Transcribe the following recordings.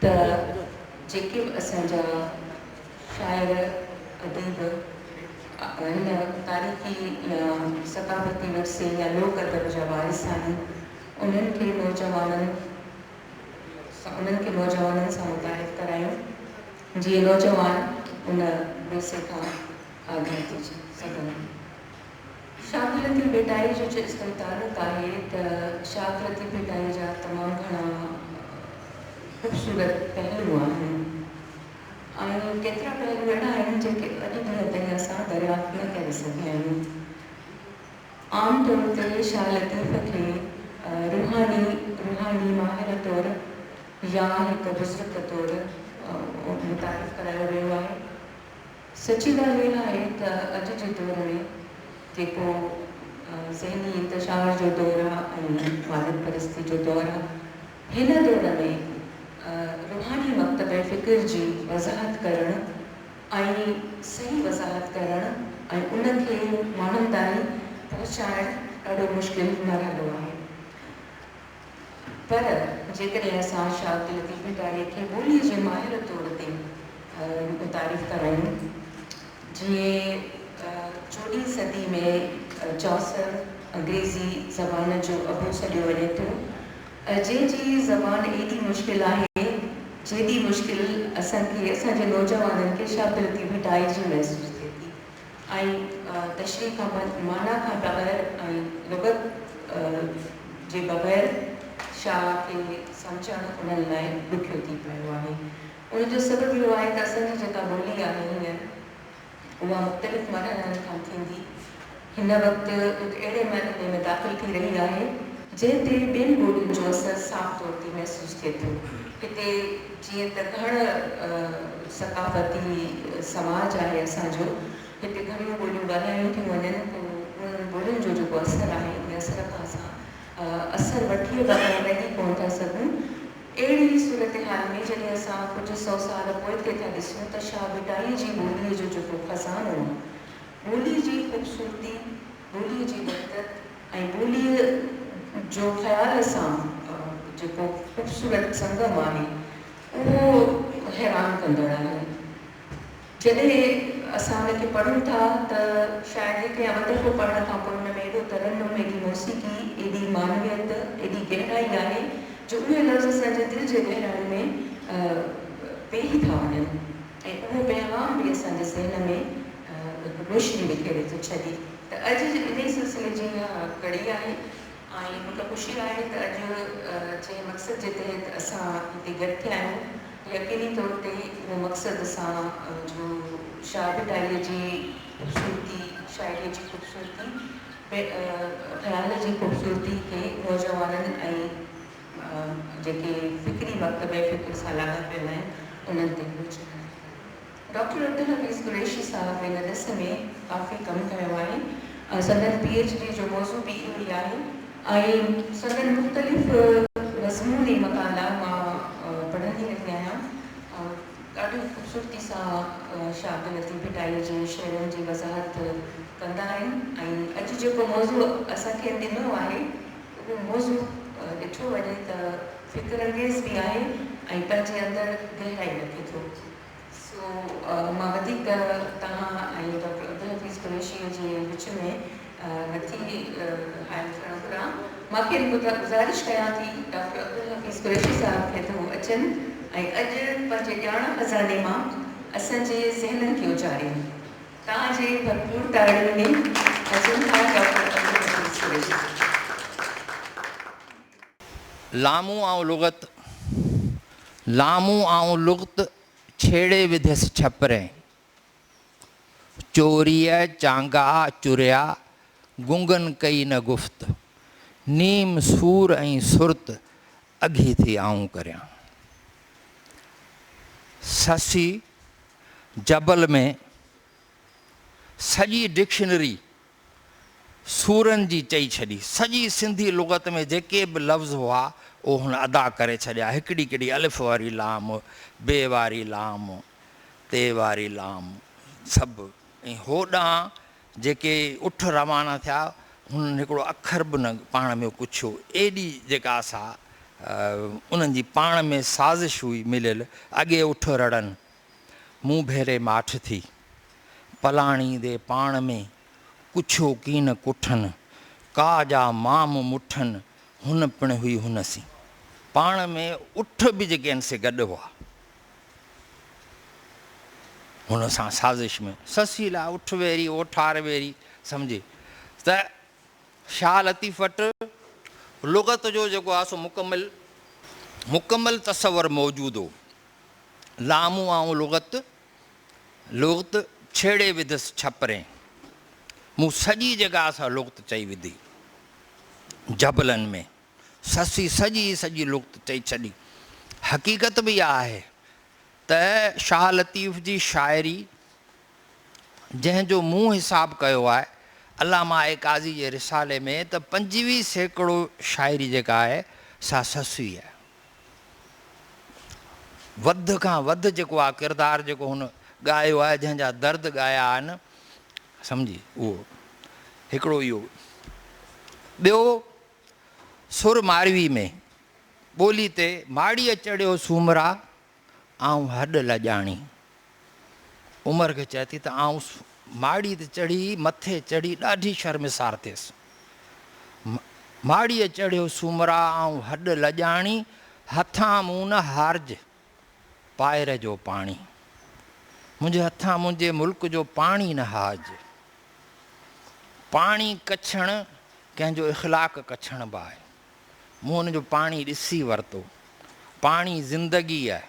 ته جيڪي به اسان جا شاعر اديب آهن تاريخي يا ثقافتي ورثي يا لوڪ ادب جا وارث آهن انهن کي نوجوانن سان انهن کي نوجوانن سان متعارف ڪرايون جيئن نوجوان ان ورثي کان آگاهه ٿي سگهن. شاگرتي ڀيٽائي جو چيستائين تعلق آهي ته شاگرتي ڀيٽائي جا تمام گهڻا خوبصورت پهلو آهن ۽ ڪيترا پهلو اهڙا آهن جيڪي اڄ ڏينهن تائين اسان دريافت نه ڪري سگهيا آهيون. عام طور تي شاهه لطيف کي روحاني روحاني ماهر طور يا هڪ بزرگ طور متعارف ڪرايو ويو آهي. سچي ڳالهه اها آهي ته اڄ جي دور ۾ جيڪو ذهني انتشار جو دور آهي ۽ ماديت پرستي جو دور آهي، هن دور ۾ روحاني مڪتبه فڪر جي وضاحت ڪرڻ ۽ صحيح وضاحت ڪرڻ ۽ ان کي ماڻهن تائين پهچائڻ ڏاڍو مشڪل مرحلو آهي. پر جيڪڏهن اسان شاهه عبداللطيف اٽاري کي ٻوليء جي ماهر طور تي متعارف ڪرايون، جنهن چوڏهين صدي ۾ چوسر، انگريزي زبان جو ابو سڏيو وڃي ٿو، جنهن جي زبان ايڏي مشڪل آهي، جيڏي مشڪل اسان کي، اسان جي نوجوانن کي شاهه عبداللطيف اٽاري جي محسوس ٿئي ٿي. ۽ تشريح کان بھ معنيٰ کان بغير ۽ لغت جي بغير شاعر کي سمجھڻ انھن لاء ڏکيو ٿي پيو آھي. ان جو سبب اھو آھي تھ اسان جي جيڪا ٻولي آھي ھينئر اھا مختلف مرحلن کان ٿيندي ھن وقت ھڪ اھڙي مرحلي ۾ داخل ٿي رھي آھي، جنھن تي ٻين ٻولين جو اثر صاف طور تي محسوس ٿئي ٿو. هتي جيئن ته گهڻ ثقافتي سماج آهي اسان جو، هتي گهڻيون ٻوليون ڳالهايون ٿيون وڃن، پوء انهن ٻولين جو جيڪو اثر آهي، ان اثر کان اسان اثر وٺي ٻاهر لنگهي ڪونه ٿا سگهون. اهڙي صورتحال ۾ جڏهن اسان ڪجهه سو سال پوئتي ٿا ڏسون ته شاهه ڀٽائي جي ٻوليء جو جيڪو خزانو آهي، ٻولي جي خوبصورتي، ٻوليء جي وحدت ۽ ٻوليء جو خيال سان جيڪو خوبصورت سنگم آهي، اهو حيران ڪندڙ آهي. جڏهن اسان ان کي پڙهون ٿا ته شايد هڪ يا ٻه دفعو پڙهڻ کان پوء ان ۾ ايڏو ترنم، ايڏي موسيقي، ايڏي معنويت، ايڏي گهرائي آهي جو اهي لفظ اسان جي دل جي گهرايو ۾ پيهي ٿا وڃن. ۽ اهو پيغام به اسان جي ذهن ۾ هڪ روشني بکيري ٿو ڇڏي ته اڄ جي انهي سلسلي جي اها ڪڙي آهي ۽ مونکي خوشي آهي ته اڄ جنهن مقصد جي تحت اسان هتي گڏ ٿيا آهيون يقيني طور تي اهو مقصد اسان جو شاهه ڀٽائيء جي خوبصورتي، شاعريء جي خوبصورتي، خيال جي خوبصورتي کي نوجوانن ۽. جيڪي فڪري وقت بي فڪر سان لاڳاپيل آهن، انهن تي پهچڻ آهي. ڊاڪٽر عبدالحفيظ قريشي صاحب ان ڏس ۾ ڪافي ڪم ڪيو آهي ۽ سندن پي ايڇ ڊي جو موضوع به اهو ئي آهي ۽ سندن مختلف مضموني مقالا مان پڙهندي رهي آهيان ۽ ڏاڍي خوبصورتي سان شاهد لطيف ڀٽائي جي شعرن جي وضاحت ڪندا آهن ۽ اڄ جيڪو موضوع اسان کين ڏنو آهي، اهو موضوع ڏٺو وڃي ته فڪر انگيز به آهي ۽ پنهنجي اندر گهرائي رکي ٿو. سو مان وڌيڪ ته توهان ۽ ڊاڪٽر عبدالحفيظ قريشيء جي وچ ۾ نه ٿي حائل ٿيڻ گهران. مان کين گذارش ڪيان ٿي ڊاڪٽر عبدالحفيظ قريشي صاحب کي ته هو اچن ۽ اڄ پنهنجي ڄاڻ خزاني مان اسان جي ذهنن کي اجارين. توهان جي ڀرپور تاڙين ۾ اچون ٿا ڊاڪٽر عبدالحفيظ قريشي. لامون آئون لغت لامون آئون لغت ڇيڙي وڌيس ڇپرين چوريء چانگا چريا گونگن ڪئي نه گفت نيم سور ۽ سرت اگهي ٿي آئون ڪريان سسي جبل ۾ سڄي ڊڪشنري سورن جي چئي ڇڏي. سڄي سنڌي لغت ۾ جيڪي به لفظ هئا، اهو هن ادا ڪري ڇڏيا. هڪڙي ڪڙي الف واري لام، ب واري لام، ت واري لام سڀ ۽ هوڏانهن جيڪي اٺ روانا ٿيا، هنن هڪڙو اکر به نه پاڻ ۾ پڇيو، ايڏي جيڪا سا انهن جي پاڻ ۾ سازش هئي مليل، اڳي اٺ رڙن، مون ڀيري ماٺ ٿي، پلاڻي دي پاڻ ۾ ڪڇيو ڪين ڪٺن، ڪا جا مام مٺن، هن پڻ هئي هن سين. پاڻ ۾ اٺ به جيڪي آهن سي گڏ هئا. هن سان سازش ۾ سسي لا اٺ ويري اوٺار ويري سمجهي ته شاهه لطيف وٽ لغت جو جيڪو آهي سو مڪمل مڪمل تصور موجود هو. لامون آئون لغت لغت ڇيڙي وڌس ڇپرين. مون سڄي جيڪا سا لغت چئي وڌي جبلن ۾. سسي سڄي سڄي لغت چئي ڇڏي. حقيقت به اها آهي ته شاهه لطيف جي شاعري جنهن جو مون حساب ڪيو آهي علامه اي قاضي جي رسالي ۾ ته پنجويهه سيڪڙو شاعري جيڪا آهي سا سسي آهي. وڌ کان وڌ جيڪو آهي ڪردار جيڪو هن ڳايو آهي جنهن جا درد ڳايا آهن سمجهي اهو هڪڙو اهو ٻيو سر ماروي ۾، ٻولي تي ماڙيء چڙهيو سومرا، آئون هڏ لڄاڻي. عمر کي چئي ٿي ته آئون ماڙي تي چڙهي، مٿي چڙهي ڏاڍي شرمسار ٿيس. ماڙيء چڙهيو سومرا، آئون هڏ لڄاڻي، هٿان مون نه هارج. پائر جو پاڻي منهنجي هٿان منهنجي ملڪ جو پاڻي نه هاج پاڻي ڪڇڻ ڪنهن جو اخلاق ڪڇڻ به آهي مون ان جو پاڻي ڏسي ورتو پاڻي زندگي آهي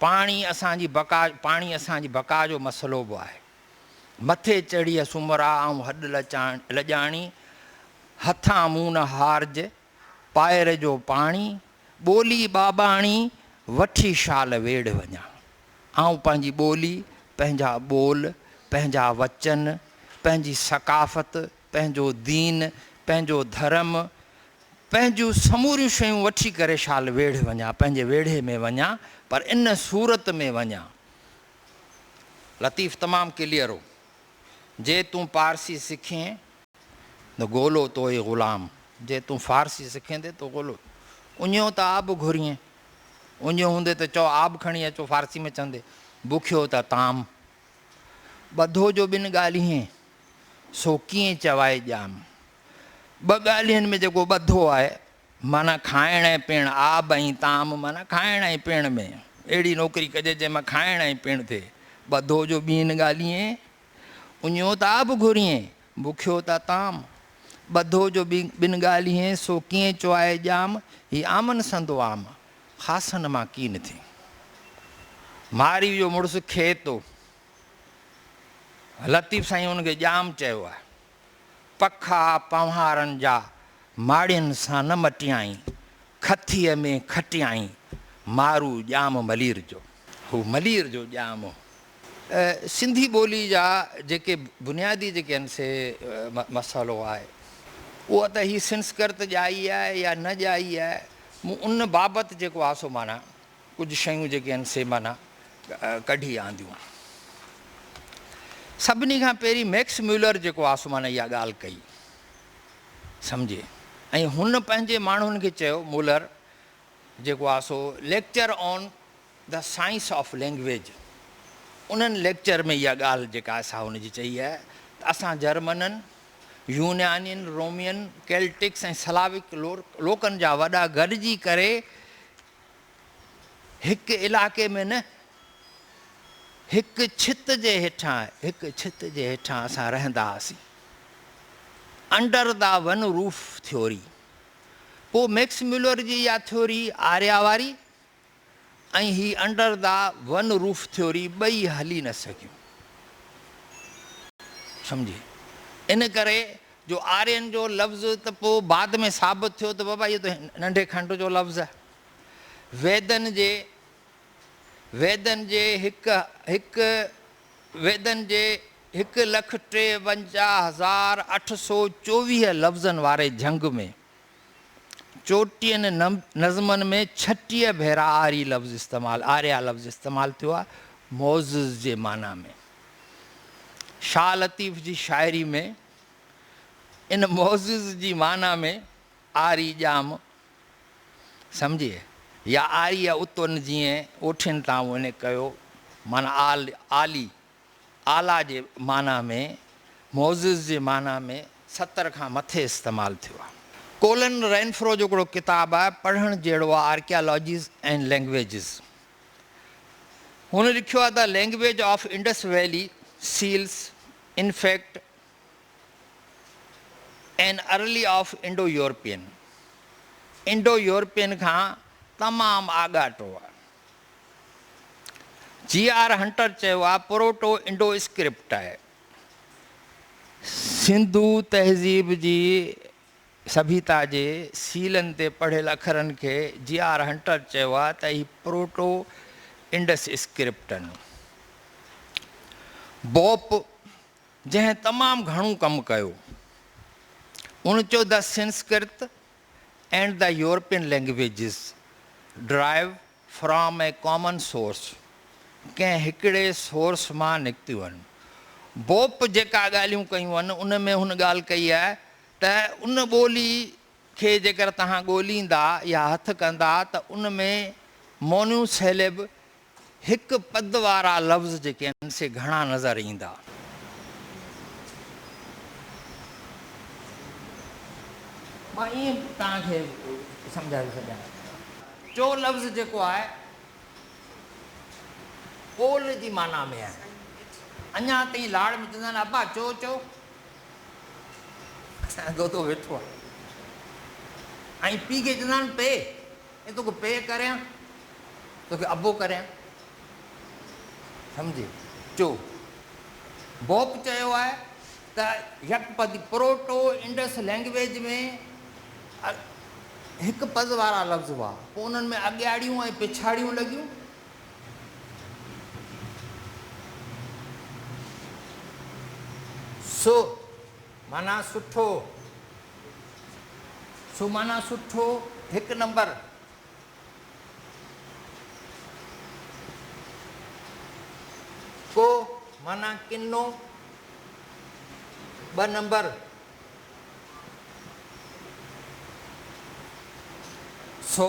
پاڻي اسان جي بقا پاڻي اسان جي بقا جو مسئلو به آهي مٿي چڙهي سمرا آئون هڏ لچاڻ لڄاڻي هٿان مون نه هارج پائر جو پاڻي، ٻولي ٻاٻاڻي، وٺي شال ويڙهه وڃان. آئون پنهنجي ٻولي، پنهنجا ٻول، پنهنجا وچن، پنهنجي ثقافت، پنهنجو دين، پنهنجو ڌرم، پنهنجون سموريون شيون وٺي ڪري شال ويڙهه وڃان، پنهنجي ويڙهي ۾ وڃان، پر ان صورت ۾ وڃان. لطيف تمام ڪليئر هو. جي تون پارسي سکين، نه گولو تو اي غلام، جي تون فارسي سکيندي تو گولو اڃيو ته آب گهريئين، اڃيو هوندي ته چئو آب کڻي اچو فارسي ۾ چوندي بکيو ته طعام، ٻڌو جو ٻن ڳالهين سو ڪيئن چوائي ڄام، ٻه ڳالهين ۾ جيڪو ٻڌو آهي معنيٰ کائڻ ۽ پيڻ، آب ۽ طعام معنيٰ کائڻ ۽ پيڻ ۾ اهڙي نوڪري ڪجي جنهن مان کائڻ ۽ پيڻ ٿئي، ٻڌو جو ٻين ڳالهين. اڃيو ته آب گهريئين، بکيو ته طعام. ٻڌو جو ٻن ڳالهيئين، سو ڪيئن چوائي ڄام. هي عامن سندو عام، خاصن مان ڪين ٿي. مارئي جو مڙس کيتو، لطيف سائين ان کي ڄام چيو آهي. پکا پنوهارن جا ماڙين سان نه مٽيائين، کٿيء ۾ کٽيائين مارو ڄام ملير جو. هو ملير جو ڄام هو. سنڌي ٻولي جا جيڪي بنيادي جيڪي آهن سي مسئلو آهي اهو ته هي سنسڪرت ڄائي آهي يا نه ڄائي آهي مون ان بابت جيڪو آهي سو معنيٰ ڪجهه شيون جيڪي آهن سي معنيٰ ڪڍي آنديون. سڀني کان پهرين ميڪس ميولر جيڪو آسمان اها ڳالهه ڪئي سمجهي ۽ هن پنهنجي ماڻهن کي چيو مولر جيڪو آهي سو lecture on the science of language انهن ليڪچر ۾ اها ڳالهه جيڪا آهي سا هن جي چئي آهي ته اسان جرمنن يونانين رومين ڪيلٽڪس ۽ سلاوڪ لوڪن جا وڏا گڏجي ڪري هڪ علائقي ۾ نه، هڪ ڇت جي هيٺان، هڪ ڇت جي هيٺان اسان رهندا هئاسين. Under the one roof theory. پوء ميڪس ميولر جي اها ٿيوري آريا واري ۽ هي under the one roof theory ٻئي هلي نه سگهيون. سمجهي؟ ان ڪري جو آرين جو لفظ ته پوء بعد ۾ ثابت ٿيو ته بابا اهو ته ننڍي کنڊ جو لفظ آهي. ويدن جي ويدن جي هڪ هڪ ويدن جي هڪ لک ٽيونجاهه هزار اٺ سؤ چوويهه لفظن واري جهنگ ۾ چوٽيهن نظمن ۾ ڇٽيهه ڀيرا آري لفظ استعمال آريا لفظ استعمال ٿيو آهي معزز جي معنيٰ ۾ شاهه لطيف جي شاعري ۾ ان معزز جي معنيٰ ۾ آري ڄام سمجهي يا آريه اتون جيئن اوٺين تان وڃي ڪيو معنيٰ عالي، اعليٰ جي معنيٰ ۾، معزز جي معنيٰ ۾ ستر کان مٿي استعمال ٿيو آهي. ڪولن رينفرو جو هڪڙو ڪتاب آهي پڙهڻ جهڙو آهي Archaeologies and Languages. هن لکيو آهي ته language of Indus valley seals in fact in early of Indo European, Indo European کان تمام آڳاٽو آ. جي آر هنٽر چيو آ پروٽو انڊو اسڪرپٽ آهي. سنڌو تهذيب جي سڀيتا جي سيلن تي پڙهيل اکرن کي جي آر هنٽر چيو آهي ته هي پروٽو انڊس اسڪرپٽ آهن. بوپ جنهن تمام گهڻو ڪم ڪيو ان چيو ته Sanskrit and the European languages derive from a common source, ڪنهن هڪڙي سورس مان نڪتيون آهن. بوپ جيڪا ڳالهيون ڪيون آهن ان ۾ هن ڳالهه ڪئي آهي ته ان ٻولي کي جيڪر توهان ڳوليندا يا هٿ ڪندا ته ان ۾ مونيو سيلب هڪ پد وارا لفظ جيڪي آهن سي گهڻا نظر ايندا. مان ائين توهان کي سمجهائي ٿو سگهيان. چو لفظ جيڪو آهي ٻول جي معنيٰ ۾ آهي. اڃا تائين لاڙ ۾ چوندا آهن ابا چو چو. اسان جو دودو ويٺو آهي ۽ پيء کي چوندا آهن پيء اي توکي پيء ڪريان توکي ابو ڪريان سمجهي چو. بوپ چيو آهي ته يڪ پد، پروٽو انڊس لئنگويج ۾ هڪ پد وارا لفظ هئا، پوء انهن ۾ اڳياڙيون ۽ پڇاڙيون لڳيون. سو معنيٰ سٺو، سو معنيٰ سٺو، هڪ نمبر. ڪو معنيٰ ڪنو ٻه نمبر سو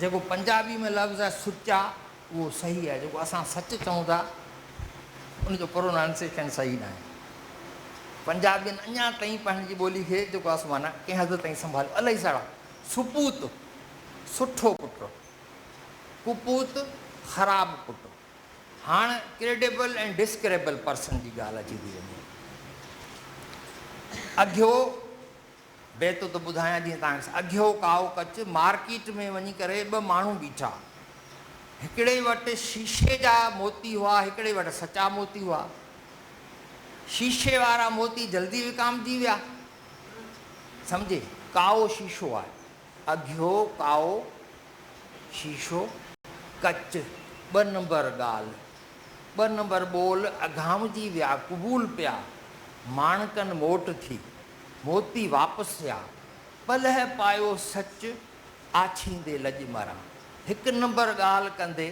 جيڪو پنجابي ۾ لفظ آهي سچا اهو صحيح آهي جيڪو اسان سچ چئون ٿا ان جو پرونانسيشن صحيح ناهي پنجابين اڃا تائين پنهنجي ٻولي کي جيڪو اسان معنيٰ ڪنهن حد تائين سنڀاليو الائي سڙا سپوت سٺو پٽ ڪپوت خراب پٽ هاڻ ڪريڊيبل ۽ ڊسڪريبل پرسن جي ڳالهه اچي ٿي وڃي اگهيو بيت ته ٻڌايان جيئن تان کي اگهيو ڪائو ڪچ مارڪيٽ ۾ وڃي ڪري ٻه ماڻهو بيٺا هڪڙي وٽ شيشي جا موتي هئا هڪڙي وٽ سچا موتي هئا شيشي وارا موتي جلدي وڪامجي ويا سمجهي ڪائو شيشو آهي اگهيو ڪائو شيشو ڪچ ٻه نمبر ڳالهه ٻه نمبر ٻول اگهامجي ويا قبول پيا ماڻڪن موٽ ٿي موتي واپس ٿيا، پلئه پايو سچ آڇيندي لڄ مران. هڪ نمبر ڳالهه ڪندي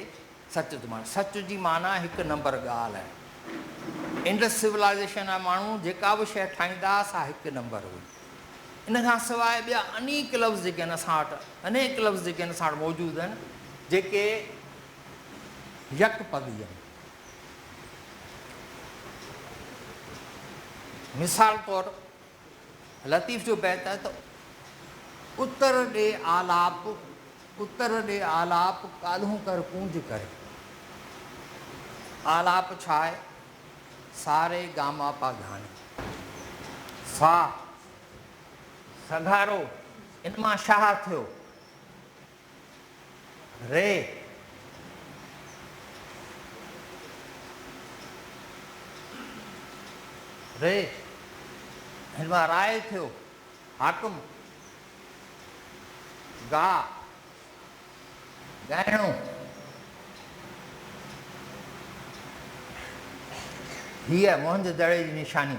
سچ ٿو ماران. سچ جي معنيٰ هڪ نمبر ڳالهه. انڊس سولائيزيشن جا ماڻهو جيڪا به شيء ٺاهيندا هئا سا هڪ نمبر هئي. ان کان سواء ٻيا انيڪ لفظ جيڪي آهن اسان وٽ انيڪ لفظ جيڪي آهن اسان وٽ موجود آهن جيڪي يڪ پڳي آهن. مثال طور لطيف جو بيت آهي ته اتر ڏي آلاپ اتر ڏي آلاپ ڪالهون ڪر ڪونج ڪري. آلاپ ڇا آهي؟ سا ري گا ما پا گهاڻي، سا، سگهارو، ان مان شاهه ٿيو. ري ري هن مان راء ٿيو حاڪم گاهه ڳائڻو هيء موهن جو دڙي جي نشاني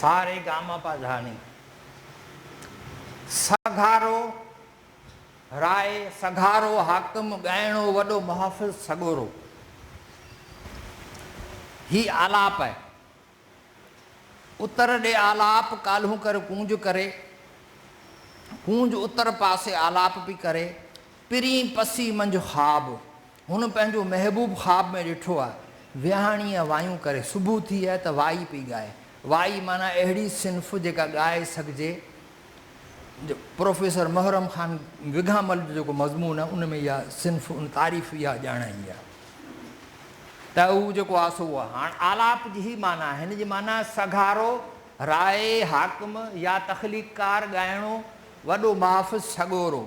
سا ري گا ما پا ڌا ني سا گا رو راء سگهارو حاڪم ڳائڻو وڏو محافظ سڳورو هي آلاپ اتر ڏي آلاپ ڪالهون ڪر ڪونج ڪري، ڪونج اتر پاسي آلاپ پي ڪري، پرين پسي منجهه خواب، هن پنهنجو محبوب خواب ۾ ڏٺو آهي، ويهاڻيء وايون ڪري، صبح ٿي آهي ته وائي پي ڳائي، وائي معنيٰ اهڙي صنف جيڪا ڳائي سگهجي، پروفيسر محرم خان وگهامل جو جيڪو مضمون آهي ان ۾ اها صنف ان تعريف اها ڄاڻائي آهي ته هو جيڪو آهي سو اها هاڻ آلاپ جي هي معنيٰ آهي هن جي معنيٰ سگهارو رائي حاڪم يا تخليقڪار ڳائڻو وڏو محافظ سڳورو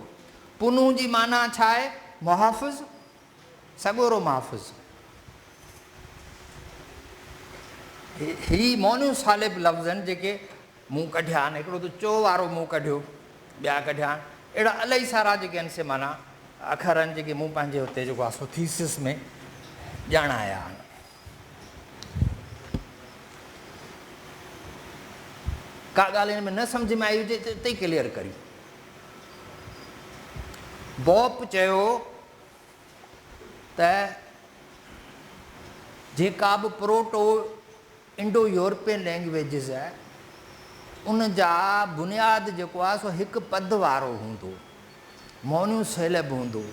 پنهون جي معنيٰ ڇا آهي محافظ سڳورو محافظ هي مونيو صالب لفظ آهن جيڪي مون ڪڍيا آھن، ھڪڙو ته چؤ وارو مون ڪڍيو، ٻيا ڪڍيا آھن، اھڙا الائي سارا جيڪي آھن سي معنيٰ اکر آھن جيڪي مون پنھنجي اتي جيڪو آھي سو ٿيسز ۾ ڄاڻايا آھن. ڪا ڳالھ ھن ۾ نه سمجھ ۾ آئي ھجي ته اتي ڪليئر ڪريون. بوپ چيو ته جيڪا به پروٽو انڊو يورپين لينگويجز ان جا بنياد جيڪو آهي سو هڪ پد وارو هوندو، مونيو سيلب هوندو،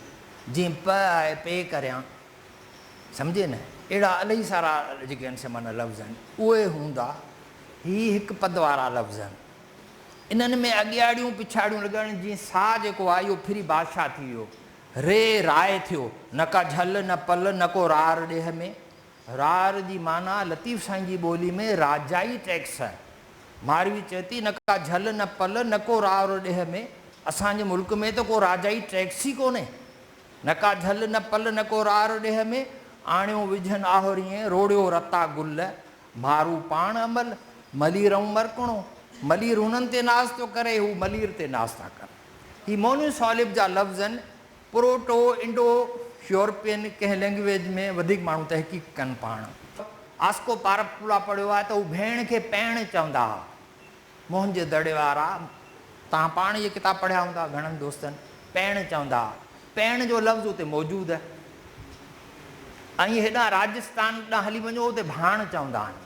جيئن پ آهي پي ڪريان، سمجهي نه، اهڙا الائي سارا جيڪي آهن سي معنيٰ لفظ آهن اهي هوندا، هي هڪ پد وارا لفظ آهن، انهن ۾ اڳياڙيون پڇاڙيون لڳائڻ جيئن سا جيڪو آهي اهو پھرين بادشاهه ٿي ويو، ري راء ٿيو، نه ڪا جھل نه پل نه ڪو رار ڏيھ ۾، رار جي معنيٰ لطيف سائين جي ٻولي ۾ راجائي ٽيڪس آهي. ماروي چئي ٿي، نه ڪا جهل نه پل، نه ڪو رار ڏيهه ۾، اسان جي ملڪ ۾ ته ڪو راجائي ٽيڪس ئي ڪونهي. نه ڪا جهل نه پل، نه ڪو رار ڏيهه ۾، آڻيو وجهن آهوريئين، روڙيو رتا گل، مارو پاڻ امل، ملير ائون مرڪڻو، ملير هنن تي ناز ٿو ڪري، هو ملير تي ناز ٿا ڪن. هي مونيون سالب جا لفظ آهن. پروٽو انڊو يورپين ڪنهن لينگويج ۾ وڌيڪ ماڻهو تحقيق ڪن پاڻ. آسڪو پارپ ڪولا پڙهيو آهي ته هو ڀيڻ کي پيڻ چوندا ها. موهن جي دڙي وارا توهان پاڻ اهي ڪتاب پڙهيا هوندا گهڻن دوستن پيڻ چوندا ها. پيڻ جو لفظ اتي موجود اهي ۽ هيڏانهن راجستان ڏانهن هلي وڃو اتي ڀاڻ چوندا آهن.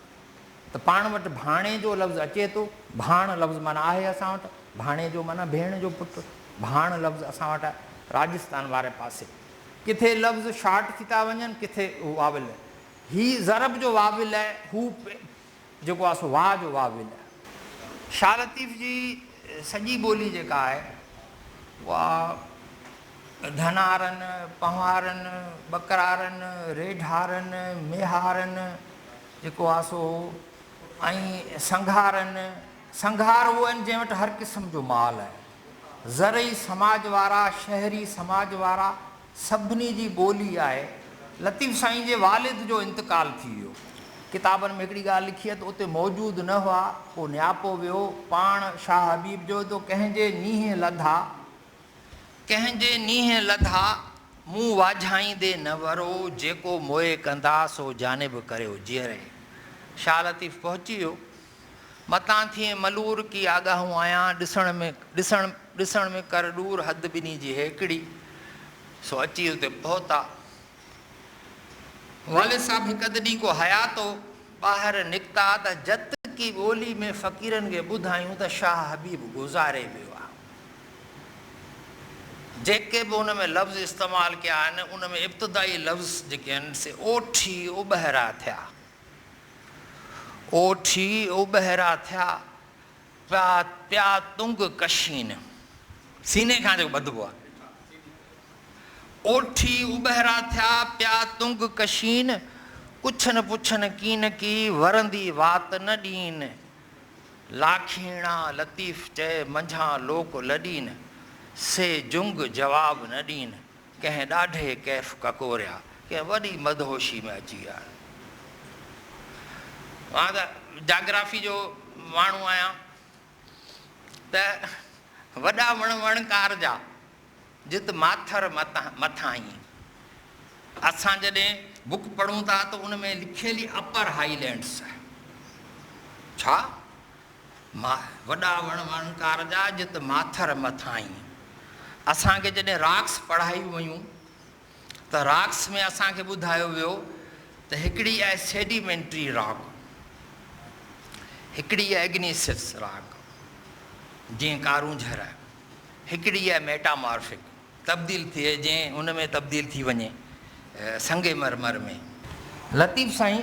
ته پاڻ وٽ ڀاڻي جو لفظ اچي ٿو، ڀاڻ لفظ معنيٰ آهي اسان وٽ، ڀاڻي جو معنيٰ ڀيڻ جو پٽ، ڀاڻ لفظ اسان وٽ آهي راجستان واري پاسي. ڪٿي لفظ شارٽ ٿي ٿا وڃن ڪٿي واويل. هي ضرب جو واويل آهي، هو پ جيڪو آهي سو واء جو واويل آهي. شاهه لطيف جي سڄي ٻولي جيڪا آهي اها ڌنارن، پنهوارن، ٻڪرارن، ريڍارن، ميهارن، جيڪو آسو هو ۽ سنگهارن، سنگهار اهو آهن جنهن وٽ هر قسم جو مال آهي. زرعي سماج وارا، شهري سماج وارا سڀني جي ٻولي آهي. لطيف سائين جي والد جو انتقال ٿي ويو. ڪتابن ۾ هڪڙي ڳالهه لکي اٿ اتي موجود نه هئا، پوء نياپو ويو، پاڻ شاهه حبيب جو ته ڪنهن جي نيهن لڌا. ڪنهن جي نينهن لڌا، مون واجهائيندي نه ورو، جيڪو موئي ڪندا، سو جانب ڪريو جيئري. شاهه لطيف پهچي ويو. متان ٿئين ملور ڪي آڳاهون آيان، ڏسڻ ۾ ڏسڻ ڏسڻ ۾ ڪر ڏور حد ٻنهي جي هيڪڙي. سو اچي اتي پهتا. والد صاحب هڪ اڌ ڏينهن ڪو حياتو ٻاهر نڪتا ته جت ڪي ٻولي ۾ فقيرن کي ٻڌايون ته شاهه حبيب گذاري ويو آ. جيڪي به ان ۾ لفظ استعمال ڪيا آهن، ان ۾ ابتدائي لفظ جيڪي آهن سي اوٺي اوٻهرا ٿيا. اوٺي اوٻهرا ٿيا، پيا پيا تنگ ڪشين، سيني کان جيڪو ٻڌبو آهي. اوٺي اوٻهرا ٿيا، پيا تنگ ڪشين، ڪڇن پڇن ڪين ڪي، ورندي وات نه ڏين. لاکيڻا لطيف چئي منجهان لوڪ لڏين، سي جنگ جواب نه ڏين، ڪنهن ڏاڍي ڪيف ڪڪوريا، ڪنهن وڏي مدهوشي ۾ اچي ويا. مان ته جاگرافي جو ماڻهو آهيان ته وڏا وڻ وڻڪار جا. جت ماٿر مٿانهين اسان جڏهن بوڪ پڙهون ٿا ته ان ۾ لکيل ئي اپر هائي لينڊس آهي. ڇا؟ وڏا وڻ وڻڪار جا جت ماٿر مٿانهين. اسان کي جڏهن راڪس پڙهايون ويون. ته راڪس ۾ اسان کي ٻڌايو ويو ته هڪڙي آهي سيڊيمينٽري راڪ، هڪڙي آهي اگنيسيس راڪ، جيئن ڪارونجهر، هڪڙي آهي ميٽامارفڪ، تبديل ٿئي، جيئن ان ۾ تبديل ٿي وڃي سنگ مرمر ۾. لطيف سائين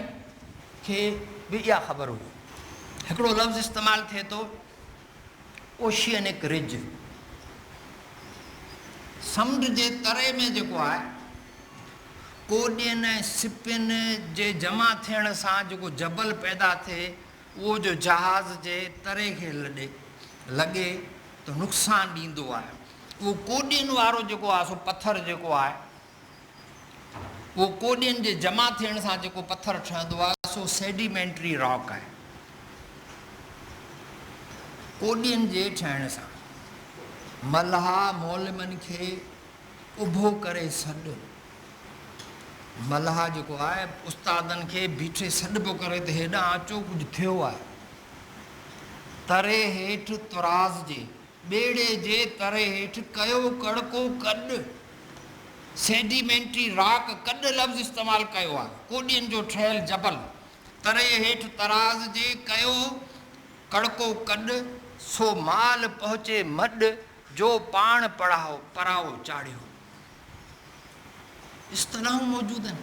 کي به اها خبر هئي. هڪڙو لفظ استعمال ٿئي ٿو. اوشيئنڪ رج سمنڊ جي تري ۾ جيڪو آهي، ڪوڏين ۽ سپين جي جمع ٿيڻ سان جيڪو جبل پيدا ٿئي، اهو جو جهاز جي تري کي لڳي ته نقصان ڏيندو آهي. اهو ڪوڏين وارو جيڪو آهي سو پٿر جيڪو آهي، اهو ڪوڏين جي جمع ٿيڻ سان جيڪو پٿر ٺهندو آهي سو سيڊيمينٽري راڪ آهي. ڪوڏين جي ٺهڻ سان ملهاء مولمن کي اڀو ڪري سڏ ملهاء جيڪو آهي استادن کي بيٺي سڏ پيو ڪري ته هيڏانهن اچو ڪجهه ٿيو آهي. تري هيٺ طراز جي ٻيڙي جي تر هيٺ ڪيو ڪڙڪو ڪڏ، Sedimentary Rock، ڪڏ لفظ استعمال ڪيو آهي، ڪوڏين جو ٺهيل جبل، تري هيٺ تراز جي ڪيو ڪڙڪو ڪڏ، سو مال پهچي مڏ، جو پاڻ پڙهائو پراهو چاڙهيو. اصطلاحون موجود آهن.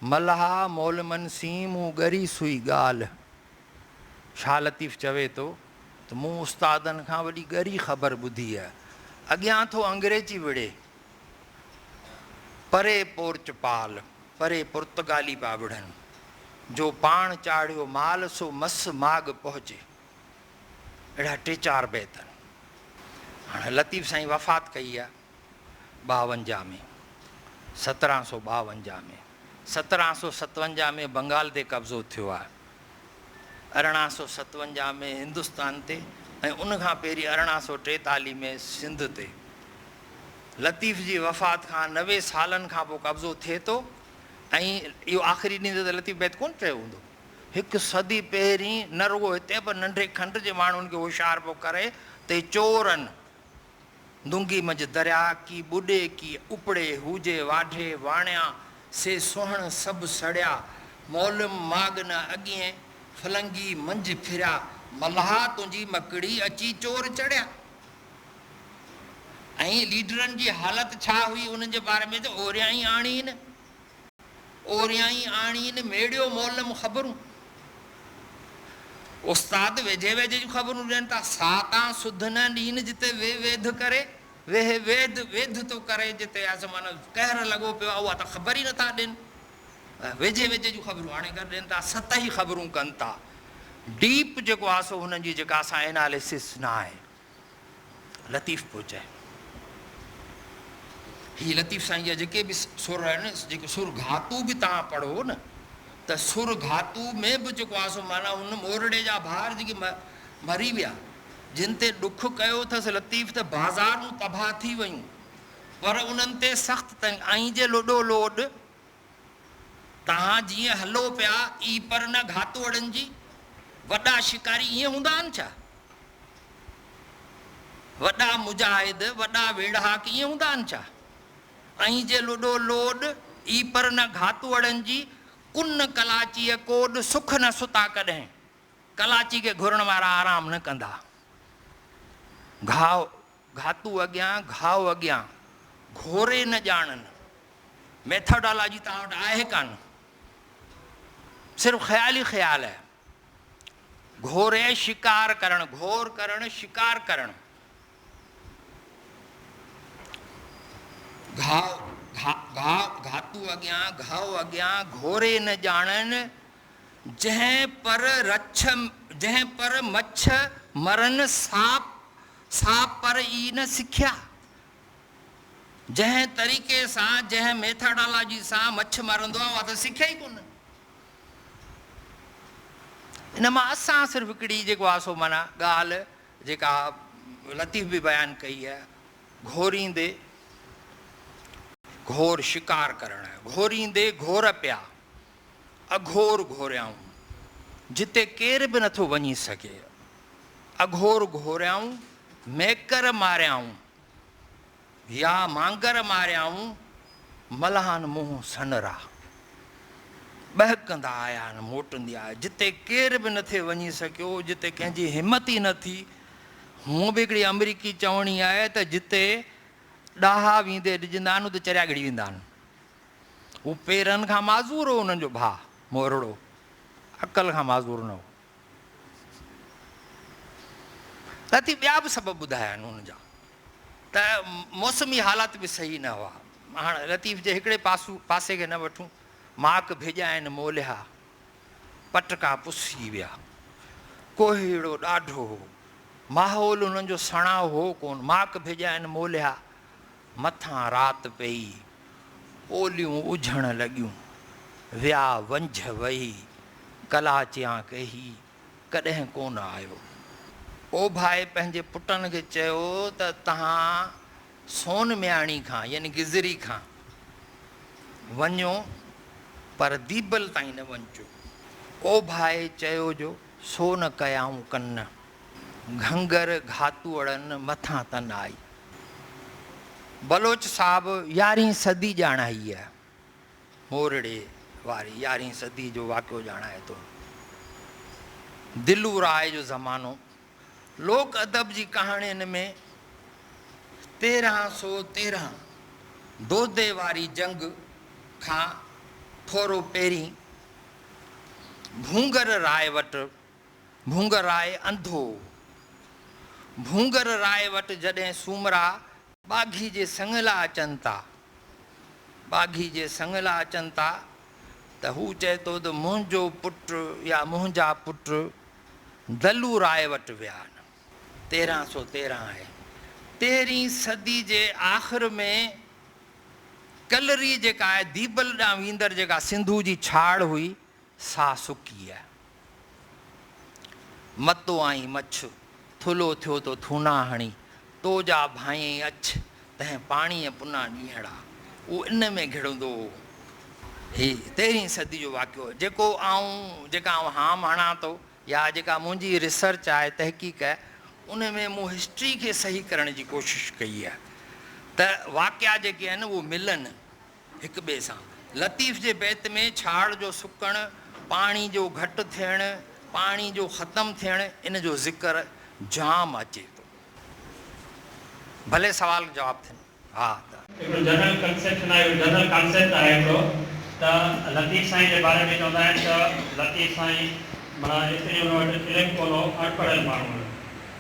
ملها مولمن سين مون ڳري سوئي ڳالهه. شاهه لطيف چوي ٿو ته مون استادن کان وڏي ڳري خبر ٻڌي هئ. اڳيان ٿو انگريزي وڙهي، پري پورچ پال، پري پرتگالي پيا وڙهن، جو پاڻ چاڙهيو مال سو مس ماڳ پهچي. اهڙا ٽي چار بيت آهن. هاڻ لطيف سائين وفات ڪئي آهي. ٻاونجاهه ۾، سترهن سؤ ٻاونجاهه ۾، سترهن سؤ ستونجاهه ۾ بنگال تي قبضو ٿيو آهي، ارڙهن سؤ ستونجاهه ۾ هندستان تي ۽ ان کان پهرين ارڙهن سؤ ٽيتاليهه ۾ سنڌ تي. لطيف جي وفات کان نوي سالن کان پوء قبضو ٿئي ٿو ۽ اهو آخري ڏينهن ته لطيف بيت ڪونه چيو هوندو. هڪ صدي پهرين نه رڳو هتي پر ننڍي کنڊ جي ماڻهن کي هوشيار پيو ڪري ته چورن، دونگي منجھ دريا ڪي ٻڏي ڪي اپڙي هوجي واڍي واڻيا سي سونهڻ سڀ سڙيا مولم ماڳ نه اڳين ڦلنگي منجھ ڦريا ملاح تنهنجي مڪڙي اچي چور چڙيا ۽ ليڊرن جي حالت ڇا هئي انهن جي باري ۾ ته اوريائين آڻين. اوريائين آڻين ميڙيو مولم خبرون. استاد ويجهي ويجهي جون خبرون ڏين ٿا. سا تان سڌ نه ڏين جتي وي ويڌ ڪري. ويهه ويد ويڌ ٿو ڪري جتي آس معنيٰ قهر لڳو پيو آهي اها ته خبر ئي نٿا ڏين. ويجهي ويجهي جون خبرون آڻي ڪري ڏين ٿا. سطحي خبرون ڪن ٿا. ڊيپ جيڪو آهي سو هنن جي جيڪا اسان اناليسس نه آهي. لطيف پيو چئي. هي لطيف سائين جا جيڪي به سر آهن، جيڪي سر گهاتو به توهان پڙهو نه ته سر گهاتو ۾ به جيڪو آهي سو معنيٰ ان مورڙي جا ڀار جيڪي مري ويا، جن تي ڏک ڪيو اٿس لطيف ته بازارون تباهه ٿي ويون، پر انهن تي سخت تنگ ۽ جي لڏو لوڏ توهان جيئن هلو پيا ئي پر نه گهاتوئڙن جي. وڏا شڪاري ائين هوندا آهن ڇا؟ وڏا مجاهد، وڏا ويڙهاڪ ائين هوندا آهن ڇا؟ ائين جي لڏو لوڏ ئي پر نه گهاتوئڙن جي. ڪن ڪلاچيء ڪوڏ سک نه ستا ڪڏهن. ڪلاچي کي گهرڻ وارا آرام نه ڪندا. گهاء گهاتو اڳيان، گهاء اڳيان، گهوري نه ڄاڻن. ميٿاڊالاجي توهان وٽ آهي ڪانه. صرف خيال ئي خيال آهي. گهوري شڪار ڪرڻ، گهور ڪرڻ، شڪار ڪرڻ. گهاء، گهاء، گهاء، گهاتو اڳيان، گهاء اڳيان، گهوري نه ڄاڻن. جنهن پر رڇ، جنهن پر مڇ مرن، ساپ. سا پر ئي نه سکيا، جنهن طريقي سان، جنهن ميٿاڊالاجي سان مڇ مرندو آهي، اها ته سکيا ئي ڪونه. ان مان اسان صرف هڪڙي جيڪو آهي سو معنيٰ ڳالهه جيڪا لطيف به بيان ڪئي آهي، گهوريندي گهور شڪار ڪرڻ، گهوريندي گهور پيا. اگهور گهوريائون، جتي ڪير به نٿو وڃي سگهي. اگهور گهوريائون، ميڪر ماريائون، يا مانگر ماريائون، ملاحان منهن سنرا. ٻهڪندا آيا آهن، موٽندي آيا. جتي ڪير به نٿي وڃي سگهيو، جتي ڪنهن جي همت ئي نه ٿي. هونء به هڪڙي آمريڪي چوڻي آهي ته جتي ڏاها ويندي ڏجندا آهن، اتي چريا ڳڙي ويندا آهن. هو پيرن کان معذور هو، انهن جو ڀاء مورڙو عقل کان معذور نه هو. اتي ٻيا به سبب ٻڌايا آهن ان جا ته موسمي حالات به صحيح نه هئا. هاڻ لطيف جي هڪڙي پاسو پاسي کي نه وٺون، ماڪ ڀيڄائين موليا، پٽڪا پسجي ويا. ڪوهيڙو ڏاڍو هو. ماحول انهن جو سڻائو هو ڪونه. ماڪ ڀيڄائين موليا، مٿان رات پيئي، اوليون اجهڻ لڳيون. ويا ونجهه وهي، ڪلاچيان ڪهي، ڪڏهن ڪونه آيو. اوڀائي پنهنجي پٽن کي چيو ته تهان سون مياڻي کان يعني گزري کان وڃو پر ديبل تائين نه وڃجو. اوڀائي چيو جو سو نه ڪيائون ڪن. گهنگر گهاتوڙن مٿان تن آئي. بلوچ صاحب يارهين صدي ڄاڻائي هي. مورڙي واري يارهين صدي جو واقعو ڄاڻائي ٿو. دلو راء جو زمانو لوڪ ادب جي ڪهاڻين ۾ تيرهن سو تيرهن دودي واري جنگ کان ٿورو پهرين ڀونگر راء وٽ ڀونگرراء انڌو، ڀونگر راء وٽ جڏهن سومرا ٻاگهي جي سڱ لا اچن ٿا، ٻاگهي جي سڱ لا اچن ٿا ته هو چئي ٿو ته منهنجو پٽ يا منهنجا پٽ دلو راء وٽ ويا آهن. تيرهن سو تيرهن آهي. تيرهين صدي جي آخر ۾ ڪلري جيڪا آهي ديبل ڏانهن ويندڙ جيڪا سنڌو جي ڇاڙ هئي، ساهه سڪي يا متو آئين مڇ، ٿلهو ٿيو تو ٿونا هڻي، تو جا ڀانئين اڇ، تنهن پاڻيء پنا ڏينهڙا. اهو ان ۾ گهڙندو هو. هي تيرهين صدي جو واقعو جيڪو آئون جيڪا آئون هام هڻان ٿو يا جيڪا منهنجي ريسرچ آهي، تحقيق آهي، ان ۾ مون هسٽري کي صحيح ڪرڻ جي ڪوشش ڪئي آهي ته واقعا جيڪي آهن اهي ملن. هڪ ٻئي سان. لطيف جي بيت ۾ ڇاڙ جو سڪڻ، پاڻي جو گهٽ ٿيڻ، پاڻي جو ختم ٿيڻ ان جو ذڪر جام اچي ٿو. ڀلي سوال جواب ٿين. ها ته. هڪڙو جنرل ڪنسيپشن آهي هڪڙو جنرل ڪانسيپٽ آهي هڪڙو ته لطيف سائين جي باري ۾ چوندا آهن ته لطيف سائين معنيٰ ايتري ان وٽ علم ڪونه هو اڻ پڙهيل ماڻهو هيو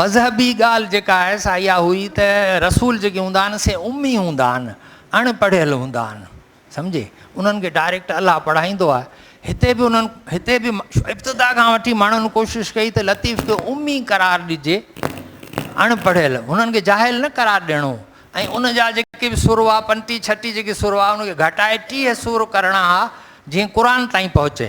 مذهبي ڳالهه جيڪا آهي سا اها هئي ته رسول جيڪي هوندا آهن سي امي هوندا آهن، اڻ پڙهيل هوندا آهن، سمجهي، انهن کي ڊائريڪٽ الله پڙهائيندو آهي، هتي به انهن هتي به ابتدا کان وٺي ماڻهن ڪوشش ڪئي ته لطيف کي امي قرار ڏجي، اڻ پڙهيل، هنن کي جاهل نه قرار ڏيڻو هو ۽ ان جا جيڪي به سر هئا پنٽي ڇٽي جيڪي سر هئا ان کي گهٽائي ٽيهه سر ڪرڻا ها جيئن قرآن تائين پهچي،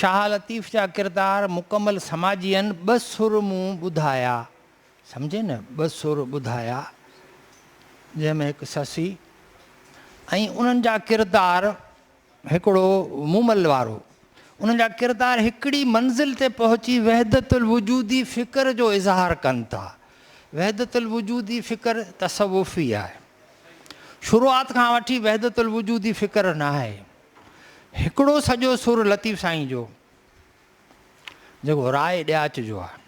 شاهه لطيف جا ڪردار مڪمل سماجيئن ٻه سر مون ٻڌايا سمجهي نه ٻه سر ٻڌايا جنهن ۾ هڪ سسي ۽ انهن جا ڪردار هڪڙو مومل وارو انهن جا ڪردار هڪڙي منزل تي پهچي وحدت الوجودي فڪر جو اظهار ڪن ٿا وحدت الوجودي فڪر تصوفي آهي شروعات کان وٺي وحدت الوجودي فڪر ناهي هڪڙو سڄو سر لطيف سائين جو جيڪو راء ڏياچ جو آهي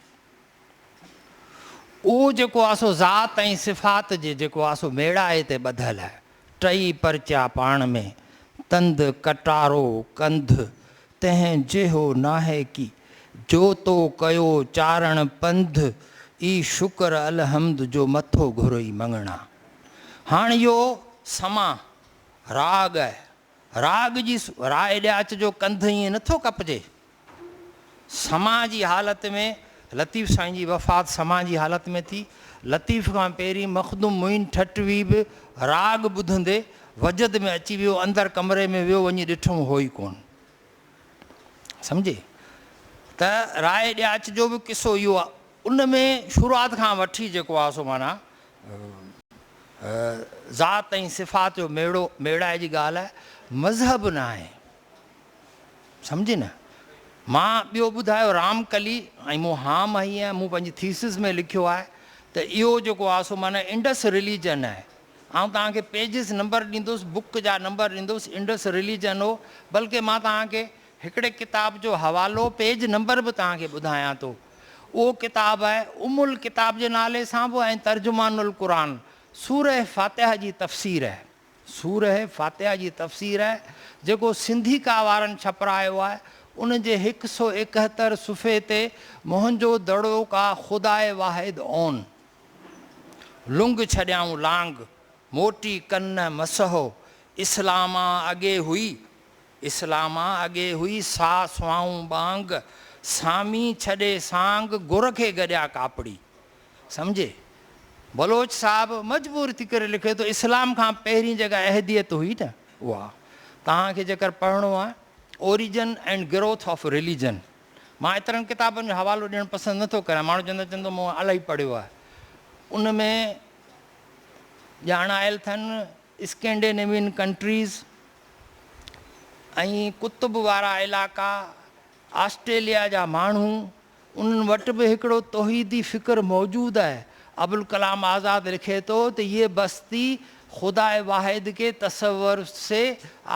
اهو جيڪو آهي سو ذات ۽ صفات جي جيڪو آهي سو ميڙائي تي ٻڌل آهي ٽئي پرچا پاڻ ۾ تند ڪٽارو ڪنڌ تنهن جيهو ناهي ڪي جو تو ڪيو چارڻ پنڌ اي شڪر الحمد جو مٿو گهرئي مڱڻا هاڻ اهو سما راڳ، راڳ جي راء ڏي اچ جو ڪنڌ ائين نه ٿو ڪپجي. سماع جي حالت ۾ لطيف سائين جي وفات سماع جي حالت ۾ ٿي. لطيف کان پهرين مخدوم معين ٺٽوي به راڳ ٻڌندي وجد ۾ اچي ويو اندر ڪمري ۾ ويو وڃي ڏٺم هو ئي ڪونه سمجهي ته راء ڏي اچ جو به قصو اهو آهي ان ۾ شروعات کان وٺي جيڪو آهي سو معنيٰ ذات ۽ صفات جو ميڙو ميڙائي جي ڳالهه مذهب نه آهي سمجهي نه مان ٻيو ٻڌايو رام ڪلي ۽ مون هام هئي ۽ مون پنهنجي ٿيسز ۾ لکيو آهي ته اهو جيڪو آهي سو معنيٰ انڊس رليجن آهي آئون توهان کي پيجز نمبر ڏيندوس بڪ جا نمبر ڏيندوس انڊس رليجن هو بلڪه مان توهان کي هڪڙي ڪتاب جو حوالو پيج نمبر به توهان کي ٻڌايان ٿو. اهو ڪتاب آهي ام الڪتاب جي نالي سان به ۽ ترجمان القرآن سوره فاتحه جي تفسير آهي. سوره فاتحه جي تفسير آهي جيڪو سنڌي ڪا وارن ڇپرايو آهي. ان جي هڪ سؤ ايڪهتر صفحي تي منهنجو دڙو ڪا خداء واحد اون لنگ ڇڏيائون لانگ موٽي ڪن نه مسحو اسلام آن اڳي هئي اسلاما اڳي هئي سا سوائون ٻانگ، سامي ڇڏي سانگ گر کي گڏيا ڪاپڙي. سمجهي؟ بلوچ صاحب مجبور ٿي ڪري لکي ٿو اسلام کان پهرين جيڪا احديت هئي نه اها توهان کي جيڪر پڙهڻو آهي Origin and Growth of Religion مان ايترن ڪتابن جو حوالو ڏيڻ پسند نه ٿو ڪريان ماڻهو چوندا چوندو مون الائي پڙهيو آهي ان ۾ ڄاڻايل ٿن اسڪينڊينيوين ڪنٽريز ۽ قطب وارا علائقا، آسٽريليا جا ماڻهو، انهن وٽ به هڪڙو توحيدي فڪر موجود آهي. ابوالڪلام آزاد لکي ٿو ته يي بستي خداء واحد ڪي تصور سي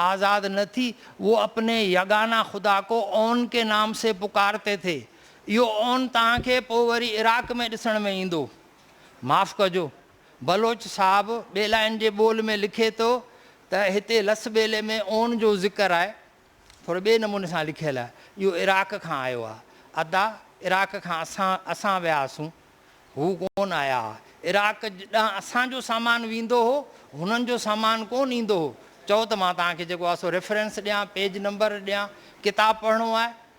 آزاد نه ٿي، وو اپني يگانه خدا ڪو اون ڪي نام سي پڪارتي ٿي. اهو اون توهان کي پوء وري عراق ۾ ڏسڻ ۾ ايندو. معاف ڪجو. بلوچ صاحب ٻيلائن جي ٻول ۾ لکي ٿو ته هتي لس ٻيلي ۾ اون جو ذڪر آهي ٿوري ٻئي نموني سان لکيل آهي. اهو عراق کان آيو آهي. ادا عراق کان اسان اسان ويا هئاسون. هو ڪون آيا ها. عراق ڏانهن اسان جو سامان ويندو هو. هنن جو سامان ڪون ايندو هو. چئو ته مان توهان کي جيڪو آهي سو ريفرنس ڏيان، پيج نمبر ڏيان. ڪتاب پڙهڻو آهي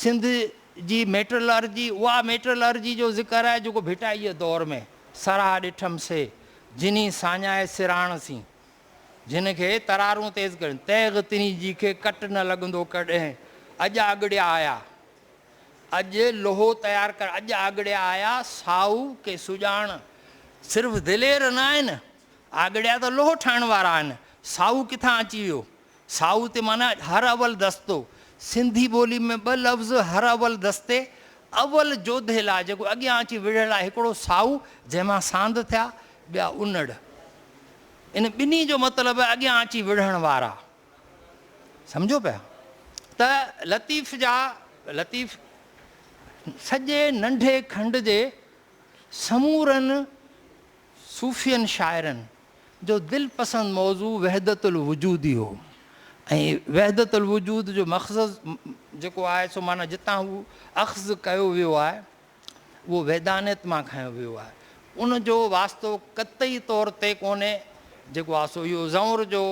سنڌ جي ميٽرلارجي اها ميٽرلارجي جو ذڪر آهي جيڪو ڀٽائيء دور ۾ سراهه ڏٺم سي جني ساڃاهي سراڻ سين جن کي ترارون تيز ڪرين تيغ تني جي کي ڪٽ نه لڳندو ڪڏهن اڄ آڳڙيا آيا اڄ لوهو تيار ڪر اڄ آڳڙيا آيا سائو ڪي سڄاڻ صرف دلير نه آهن آڳڙيا ته لوهو ٺاهڻ وارا آهن سائو ڪٿان اچي ويو سائو تي معنيٰ هر اول دستو. سنڌي ٻولي ۾ ٻه لفظ هر اول دستي، اول جوڌي لاء جيڪو اڳيان اچي وڙهيل آهي، هڪڙو سائو جنهن مان ساند ٿيا، ٻيا انڙ. ان ٻنهي جو مطلب آهي اڳيان اچي وڙهڻ وارا. سمجهو پيا؟ ته لطيف جا لطيف سڄي ننڍي کنڊ جي سمورن صوفين شاعرن، جو دل پسند موضوع وحدت الوجودي هو ۽ وحدت الوجود جو مخزز جيڪو آهي سو معنيٰ جتان هو اخذ ڪيو ويو آهي اهو وحدانيت مان کنيو ويو آهي ان جو واسطو قطعي طور تي ڪونهي جيڪو آهي سو اهو زئونر جو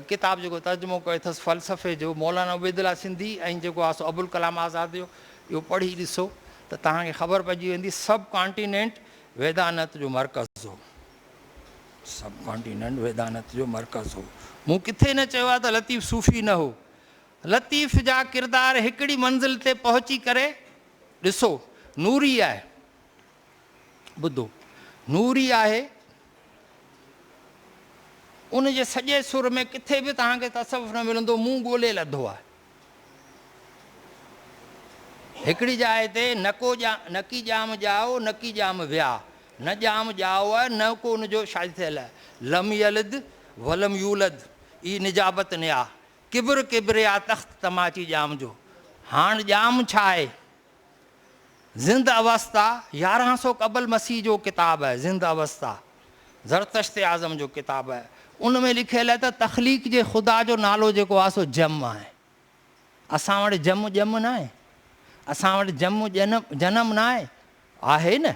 ڪتاب جيڪو ترجمو ڪيو اٿس فلسفي جو مولانا عبيد الله سنڌي ۽ جيڪو آهي سو ابوالڪلام آزاد جو اهو پڙهي ڏسو ته توهان کي خبر پئجي ويندي سب ڪانٽيننٽ ويدانت جو مرڪز هو سب ڪانٽيننٽ ويدانت جو مرڪز هو. مون ڪٿي نه چيو آهي ته لطيف صوفي نه هو. لطيف جا ڪردار هڪڙي منزل تي پهچي ڪري ڏسو. نوري آهي. ٻڌو. نوري آهي. ان جي سڄي سر ۾ ڪٿي به توهان کي تصوف نه ملندو. مون ڳولي لڌو آهي. هڪڙي جاء تي نه ڪو نڪي ڄام ڄائو نڪي ڄام ويا، نه ڄام ڄائو آهي نه ڪو ان جو شاهد ٿيل، لم يلد ولم يولد ئي نجابت نيا، ڪبر ڪبريا تخت تماچي ڄام جو، هاڻ ڄام ڇا آهي؟ زند اوستا، يارهن سو قبل مسيح جو ڪتاب آهي زند اوستا، زرتشت اعظم جو ڪتاب آهي، ان ۾ لکيل آهي ته تخليق جي خدا جو نالو جيڪو آهي سو جم آهي. اسان وٽ جم ڄم ناهي، اسان وٽ جم جنم جنم ناهي، آهي نه؟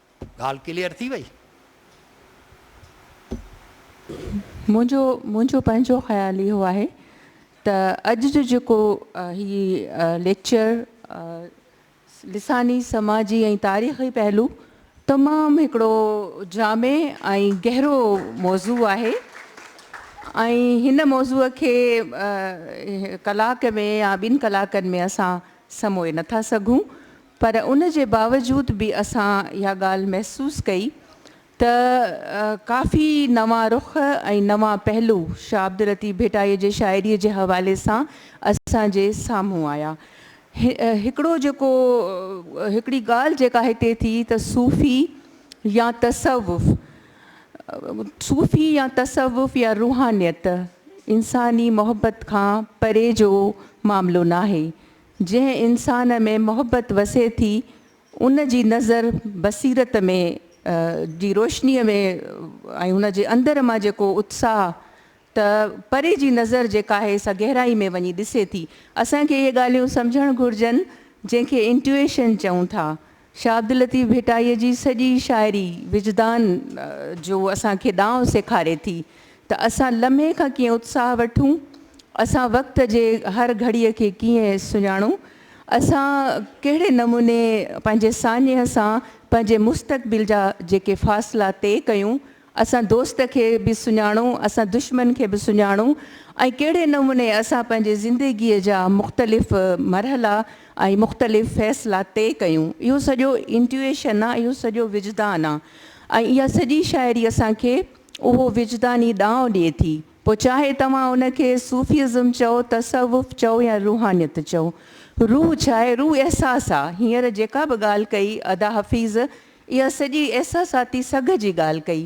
ڳالهه ڪليئر ٿي وئي. منهنجو منهنجو پنهنجو خيال اهو آهي ته اڄ جو جيڪو هي ليڪچر لساني، سماجي ۽ تاريخي پهلو تمام هڪڙو جامع ۽ گهرو موضوع آهي ۽ هن موضوع کي ڪلاڪ ۾ يا ٻن ڪلاڪن ۾ اسان سموئي نٿا سگهون پر ان جي باوجود به اسان اها ڳالهه محسوس ڪئي ته ڪافي نوان رخ ۽ نوان پهلو شاهه عبداللطيف ڀٽائي جي شاعريء جي حوالي سان اسان جي سامهون آيا. هڪڙو جيڪو هڪڙي ڳالهه جيڪا هتي ٿي ته صوفي يا تصوف، صوفي يا تصوف يا روحانيت انساني محبت کان پري جو معاملو ناهي، جنهن انسان ۾ محبت وسي ٿي ان جي نظر بصيرت ۾ جي روشنيء ۾ ۽ ان جي اندر مان جيڪو اتساهه ته پري جي نظر جيڪا آهي سا گهرائي ۾ وڃي ڏسي ٿي. اسان کي اهي ڳالهيون سمجهڻ گهرجن جنهن کي انٽيوئيشن چئون ٿا. شاهه عبداللطيف ڀٽائيء جي سڄي شاعري وجدان جو اسان کي ڏانء سيکاري ٿي ته اسان لمحي کان ڪيئن اتساهه وٺون، اسان وقت جي هر گهڙيء کي ڪيئن سڃاڻون، اسان ڪهڙي نموني پنهنجي ساڃهه سان پنهنجي مستقبل جا جيڪي فاصلا طئي ڪيون اسان دوست کي به سڃاڻو، اسان دشمن کي به سڃاڻو ۽ ڪهڙي نموني اسان پنهنجي زندگيء جا مختلف مرحلا ۽ مختلف فيصلا طئي ڪيون، اهو سڄو Intuition آ، اهو سڄو وجدان آ ۽ اها سڄي شاعري اسان کي اهو وجداني ڏانء ڏئي ٿي، پوء چاهي توهان ان کي صوفيزم چئو، تصوف چئو يا روحانيت چئو. روح ڇا آهي؟ روح احساس آ. هينئر جيڪا به ڳالهه ڪئي ادا حفيظ، اها سڄي احساساتي سگهه جي ڳالهه ڪئي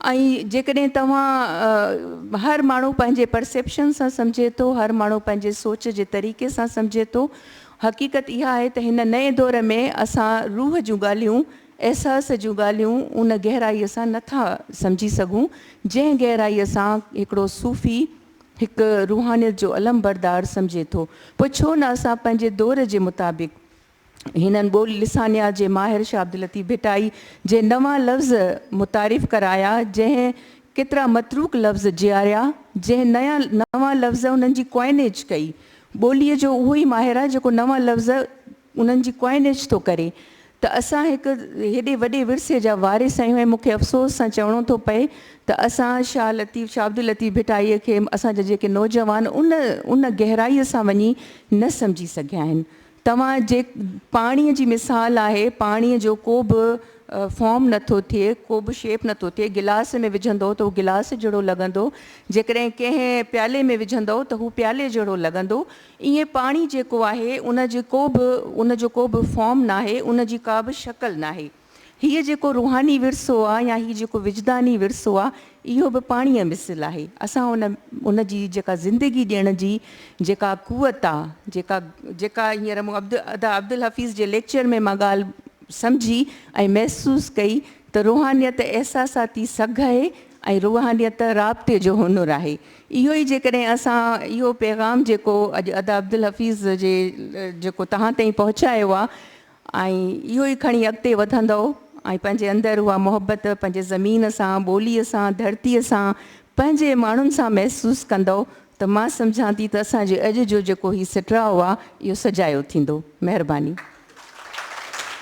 ۽ جيڪڏهن توهان هر ماڻهو پنهنجي پرسيپشن سان سمجهي ٿو، هر ماڻهو پنهنجي سوچ جي طريقي سان سمجهي ٿو. حقيقت اها آهي ته هن نئين دور ۾ اسان روح جون ڳالهيون، احساس جون ڳالهيون ان گهرائيء سان نه ٿا سمجهي سگهون، جنهن گهرائيء سان هڪڙو صوفي هڪ روحانيت جو علمبردار سمجهي ٿو. پوء ڇو نه اسان پنهنجي دور جي مطابق، هنن ٻولي لسانيات جي ماهر شاهه عبداللطيف ڀٽائي جي نوان لفظ متعارف ڪرايا، جنهن ڪيترا متروڪ لفظ جياريا، جنهن نيان نوان لفظ انهن جي ڪوائنيج ڪئي. ٻوليء جو اهو ئي ماهر آهي، جيڪو نوان لفظ انهن جي ڪوائنيج ٿو ڪري، ته اسان هڪ هيڏي وڏي ورثي جا وارث آهيون ۽ مون کي افسوس سان چوڻو ٿو پئي ته اسان شاهه لطيف شاهه عبداللطيف ڀٽائيء کي اسان جا جيڪي نوجوان ان ان گهرائيء سان وڃي نه سمجهي سگهيا آهن، توهان جي پاڻي جي مثال آهي، پاڻي جو ڪو به فارم نه ٿو ٿئي، ڪو به شيپ نه ٿو ٿئي، گلاس ۾ وجهندؤ ته هو گلاس جهڙو لڳندو، جيڪڏهن ڪنهن پيالي ۾ وجهندؤ ته هو پيالي جهڙو لڳندو، ائين پاڻي جيڪو آهي ان جي ڪو به ان جو ڪو به فارم ناهي، ان جي ڪا به شڪل ناهي. هيء جيڪو روحاني ورثو آ يا هي جيڪو وجداني ورثو آ اهو به پاڻيء مثل آهي. اسان ان ان جي جيڪا زندگي ڏيڻ جي جيڪا قوت آ جيڪا جيڪا هينئر مون عبد ادا عبدالحفيظ جي ليڪچر ۾ مان ڳالهه سمجهي ۽ محسوس ڪئي ته روحانيت احساساتي سگهه اهي ۽ روحانيت رابطي جو هنر آهي. اهو ئي جيڪڏهن اسان اهو پيغام جيڪو اڄ ادا عبدالحفيظ جي جيڪو توهان تائين پهچايو آ ۽ اهو ئي کڻي اڳتي وڌندؤ ۽ پنهنجي اندر اها محبت پنهنجي زمين سان، ٻوليء سان، ڌرتيء سان، پنهنجي ماڻهن سان محسوس ڪندؤ ته مان سمجهان ٿي ته اسان جي اڄ جو جيڪو هي سٽراء آ اهو سجايو ٿيندو. مهرباني.